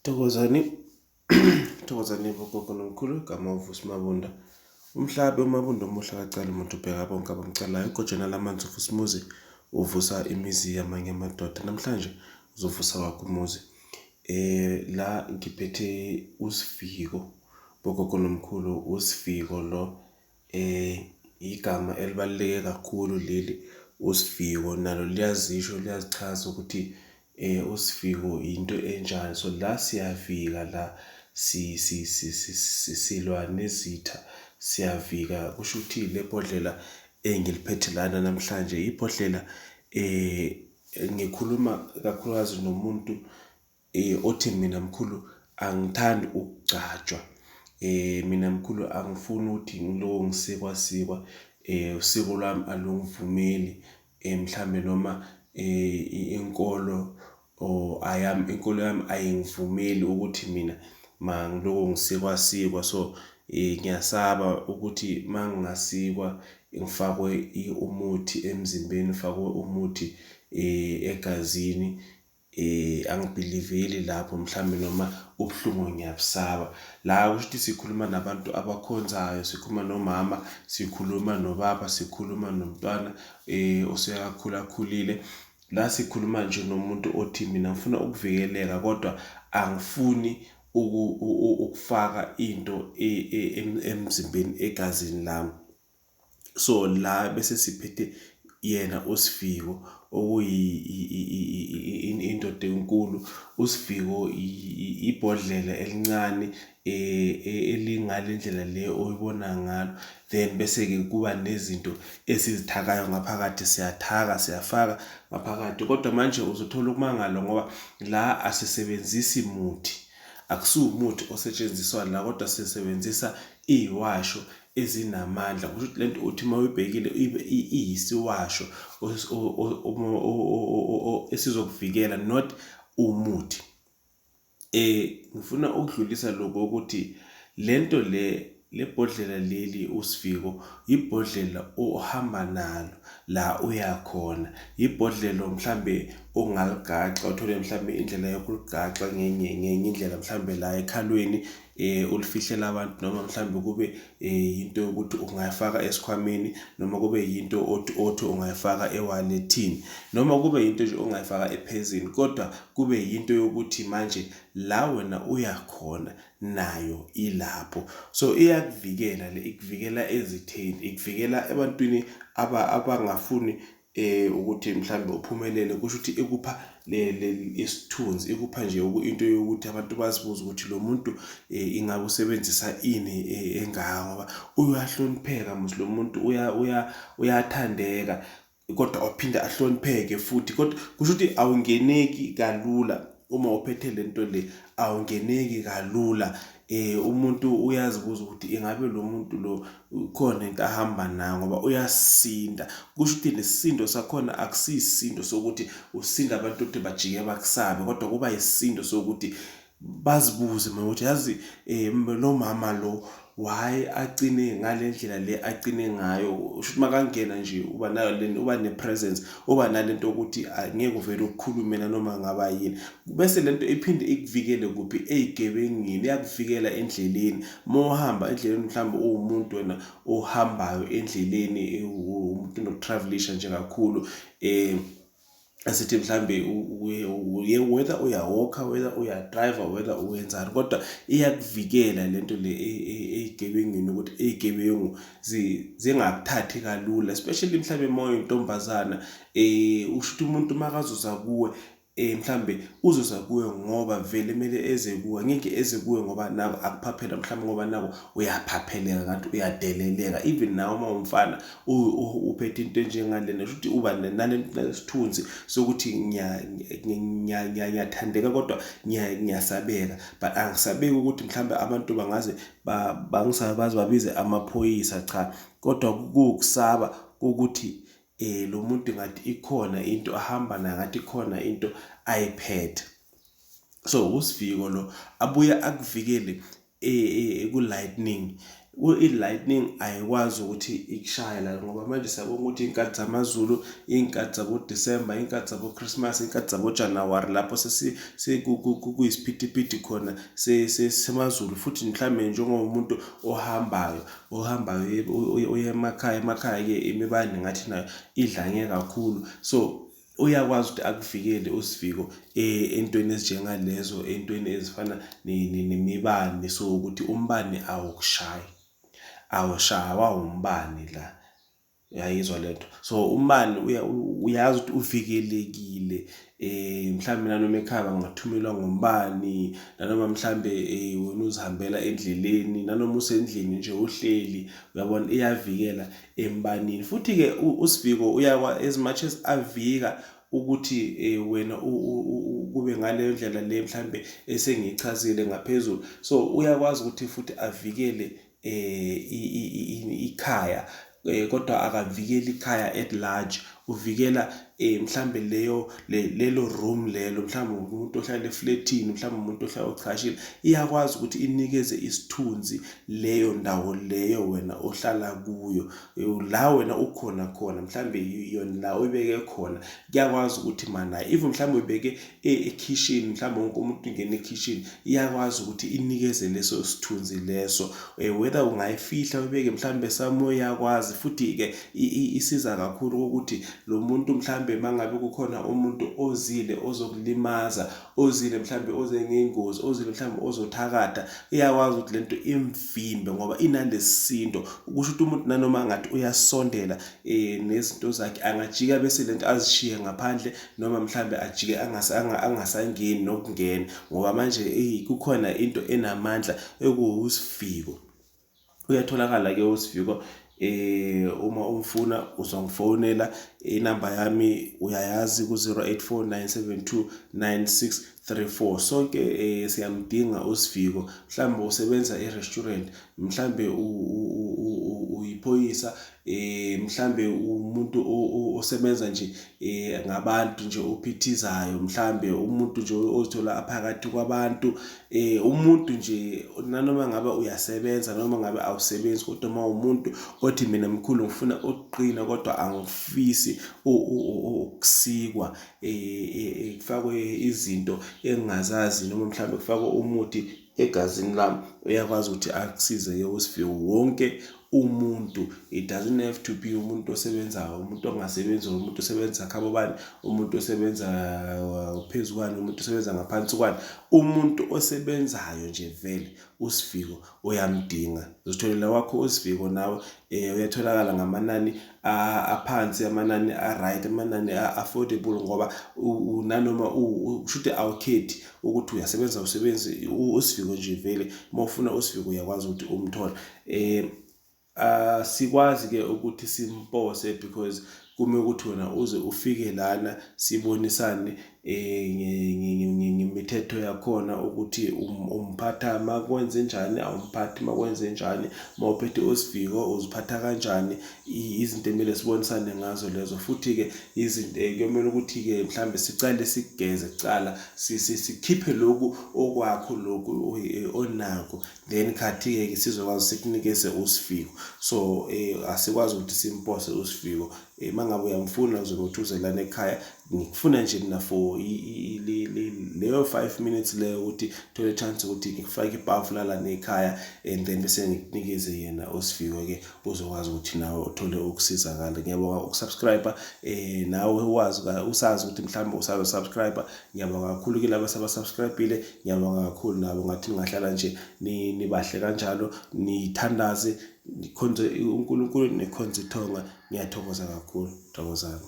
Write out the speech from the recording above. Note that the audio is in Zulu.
Thokozani, Thokozani bogogo nomkhulu, igama uVusi Mabunda. Umhlabe uMabunda omuhle akacali muntu ubheka bonke abamcalayo. Igojana lamanzi uVusi Muzi uvusa imizi yamanye amadoda. Namhlanje uzovusa wakho umuzi. Eh la ngiphethe uSiviko bogogo nomkhulu, uSiviko lo Igama elibaluleke kakhulu leli uSiviwo nalo liyazisho liyazichaza ukuthi uSiviwo into enjani. So la siyavika la silwa nezitha siyavika kusho ukuthi le bhodlela engiliphethe lana namhlanje ibhodlela ngikhuluma kakhulukazi nomuntu Eh othi mina mkhulu angithandi ukugcatshwa. Eh mina mkhulu angifuni ukuthi ngiloko ngisikwa sikwa eh usiko lwami alungivumeli eh mhlambe noma eh inkolo or ayami inkolo yami ayingivumeli ukuthi mina mangiloko ngisikwa sikwa so eh ngiyasaba ukuthi mangingasikwa ngifakwe umuthi emzimbeni ngifakwe umuthi eh egazini Eh angibhiliveli lapho mhlambe noma ubuhlungu ngiyabusaba. La kusho ukuthi sikhuluma nabantu abakhonzayo, sikhuluma nomama, sikhuluma nobaba, sikhuluma nomntwana eh osekakhula akhulile. La sikhuluma nje nomuntu othi mina ngifuna ukuvikeleka kodwa angifuni ukufaka into e, e, emzimbeni egazini lami. So la bese siphethe yena uSiviwo okuyindoda enkulu uSiviwo ibhodlela elincane e, e, elingale ndlela le oyibona ngalo then bese ke kuba nezinto esizithakayo ngaphakathi siyathaka siyafaka ngaphakathi kodwa manje uzothola ukumangala ngoba la asisebenzisi muthi akusiwumuthi osetshenziswa la kodwa sisebenzisa iyiwasho ezinamandla kusho ukuthi lento uthi uma uyibhekile iyisiwasho esizokuvikela not umuthi eh ngifuna ukudlulisa lokho ukuthi lento le lebhodlela leli uSiviko ibhodlela ohamba nalo la uyakhona ibhodlela mhlambe ongaligaxa uthole mhlambe indlela yokuligaxa ngenye ngenye indlela mhlambe la ekhalweni eh ulifihlela abantu noma mhlawumbe kube eh, yinto yokuthi ungayifaka esikhwameni noma kube yinto othi othi ungayifaka ewalethini noma kube yinto nje ongayifaka ephezini kodwa kube yinto yokuthi manje la wena uyakhona nayo ilapho so iyakuvikela le ikuvikela ezitheni ikuvikela ebantwini abangafuni eh ukuthi mhlawumbe uphumelele kusho ukuthi ikupha le isithunzi ikupha nje into yokuthi abantu bazibuza ukuthi lo muntu eh, ingabe usebenzisa ini eh, engaka ngoba uyahlonipheka musi lo muntu uya uya uyathandeka kodwa ophinde ahlonipheke futhi kodwa kusho ukuthi awungeneki kalula uma uphethe lento le awungeneki kalula Eh umuntu uyazibuza ukuthi ingabe lo muntu lo khona into ahamba nayo ngoba uyasinda. Kusho ukuthi nesisindo sakhona akusiyisindo sokuthi usinda abantu ukuthi bajike bakusabe kodwa kuba yisindo sokuthi bazibuze mina ukuthi yazi um eh, lo mama lo why agcine ngale ndlela le agcine ngayo usho ukuthi makangena nje uba nayo le uba ne-presence uba nale nto yokuthi ngeke uvele ukukhulumela noma ngaba yini Bese lento iphinde ikuvikele kuphi ezigebengini iyakuvikela endleleni mawuhamba endleleni mhlawumbe uwumuntu wena ohambayo endleleni umuntu nokutravelisha nje kakhulu eh asithi mhlambe uye whether uyawalker whether uyadriver whether uwenzani kodwa iyakuvikela lento le e, e, ezigebengini ukuthi ezigebengu zingakuthathi kalula especially mhlambe moyo intombazana eh usho ukuthi umuntu makazoza kuwe eh mhlambe uzoza kuwe ngoba vele kumele eze kuwe ngeke eze kuwe ngoba nako akuphaphela mhlambe ngoba nako uyaphapheleka kanti uyadeleleka even nawe uma umfana uphethe into enjengalena kusho ukuthi uba nalesithunzi sokuthi ngiyathandeka kodwa ngiyasabeka but angisabeki ukuthi mhlambe abantu bangaze bangisabazi babize amaphoyisa cha kodwa kukusaba ukuthi eh lo muntu ngathi ikhona into ahamba nayo ngathi ikhona into ayiphethe so usiviko lo abuye akuvikele e, e, e, ku-lightning i-lightning ayikwazi ukuthi ikushaye la ngoba manje siyabonga ukuthi iy'nkathi zamazulu iy'nkathi zabodisemba iy'nkathi zabochristmas iy'nkathi zabojanuwari lapho sesikuyisphidiphidi khona semazulu futhi mhlawumbe njengomuntu ohambayo ohambayo uye emakhaya emakhaya-ke imibane ngathi nayo idlange kakhulu so uyakwazi ukuthi akuvikele usivigo eh, entweni ezinjengalezo entweni ezifana nemibane so ukuthi umbane awukushayi awushawa umbane la Uyayizwa lento. So umani uyazi ukuthi uvikelekile eh mhlawumbe nanoma ekhaya ngathumelwa ngombani nanoma mhlawumbe eh wena uzihambela endleleni nanoma usendlini nje uhleli uyabona iyavikela embanini futhi ke usiviko uyakwa as much as avika ukuthi eh, wena kube ngaleyo ndlela le mhlambe esengichazile ngaphezulu so uyakwazi ukuthi futhi avikele eh ikhaya eh, kodwa akavikeli ikhaya at large uvikela eh mhlambe leyo lelo room lelo mhlambe umuntu ohlala eflatini mhlambe umuntu ohlala ochashile iyakwazi ukuthi inikeze isithunzi leyo ndawo leyo wena ohlala kuyo eh, la wena ukhona khona mhlambe yona la uyibeke khona kuyakwazi ukuthi mana even mhlambe uyibeke e-, ekhishini mhlawumbe wonke umuntu ingena ekhishini iyakwazi ukuthi inikeze leso sithunzi leso um whether ungayifihla uyibeke mhlawumbe somewhere iyakwazi futhi-ke isiza kakhulu kokuthi lo muntu mhlawumbe uma ngabe kukhona umuntu ozile ozokulimaza ozile mhlawumbe oze ngengozi ozile mhlawumbe ozothakatha iyakwazi ukuthi le nto imvimbe ngoba inalesindo ukusho ukuthi umuntu nanoma ngathi uyasondela um nezinto zakhe angajika bese le nto azishiye ngaphandle noma mhlambe ajike angasangeni nokungena ngoba manje kukhona into enamandla ekuwusiviko uyatholakala ke usiviko eh uma umfuna uzongifonela inamba yami uyayazi ku-0849729634 sonke eh siyamdinga usiviko mhlawumbe usebenza e-restaurant mhlawumbe uyiphoyisa eh mhlambe umuntu osebenza nje eh ngabantu nje ophithizayo mhlambe umuntu nje ozithola aphakathi kwabantu eh umuntu nje nanoma ngabe uyasebenza noma ngabe awusebenzi kodwa uma umuntu othi mina mkhulu ngifuna ukuqina kodwa angifisi ukusikwa eh, eh, eh kufakwe izinto engingazazi noma mhlambe kufakwe umuthi egazini lami uyakwazi ukuthi akusize ke uSifiwe wonke umuntu it doesn't have to be umuntu osebenzayo umuntu ongasebenzi or umuntu osebenza khabo bani umuntu osebenza uh, phezu kwani umuntu osebenza ngaphansi kwani umuntu osebenzayo nje vele uSiviko uyamdinga uzitholela wakho uSiviko nawe eh uyatholakala ngamanani aphansi amanani a-right amanani a-affordable ngoba nanoma usho ukuthi awukhethi ukuthi uyasebenza usebenzi usiviko nje vele uma ufuna usiviko uyakwazi ukuthi umthole um uh, sikwazi-ke ukuthi simpose because kume ukuthi wena uze ufike lana sibonisane ngemithetho yakhona ukuthi um, umphatha uma kwenze njani awumphathi uma kwenze njani uma uphethe usiviko uziphatha kanjani izinto emele sibonisane ngazo lezo futhi-ke izinto eh, kuyomele ukuthi-ke mhlawumbe sicale sigeze kucala sikhiphe lokhu okwakho lokhu eh, onakho then khathi-ke sizokwazi sikunikeze usiviko so um asikwazi ukuthi simpose usiviko um uma ngabe uyamfuna uzobe uthuzelana ekhaya ngikufuna nje mina for leyo five minutes leyo ukuthi thole chance ukuthi ngikufake ipafu lala nekhaya and then bese ngikunikeze yena osifiwe-ke uzokwazi ukuthi nawe uthole ukusizakala ngiyabonga ukusubscribe um eh, nawe wazi usazi ukuthi mhlawumbe usazosubscribe ngiyabonga kakhulu ke laba sabasubscribile ngiyabonga kakhulu nabo ngathi ningahlala nje nibahle kanjalo nithandaze nikhonze unkulunkulu nikhonze ithonga ngiyathokoza kakhulu thokozani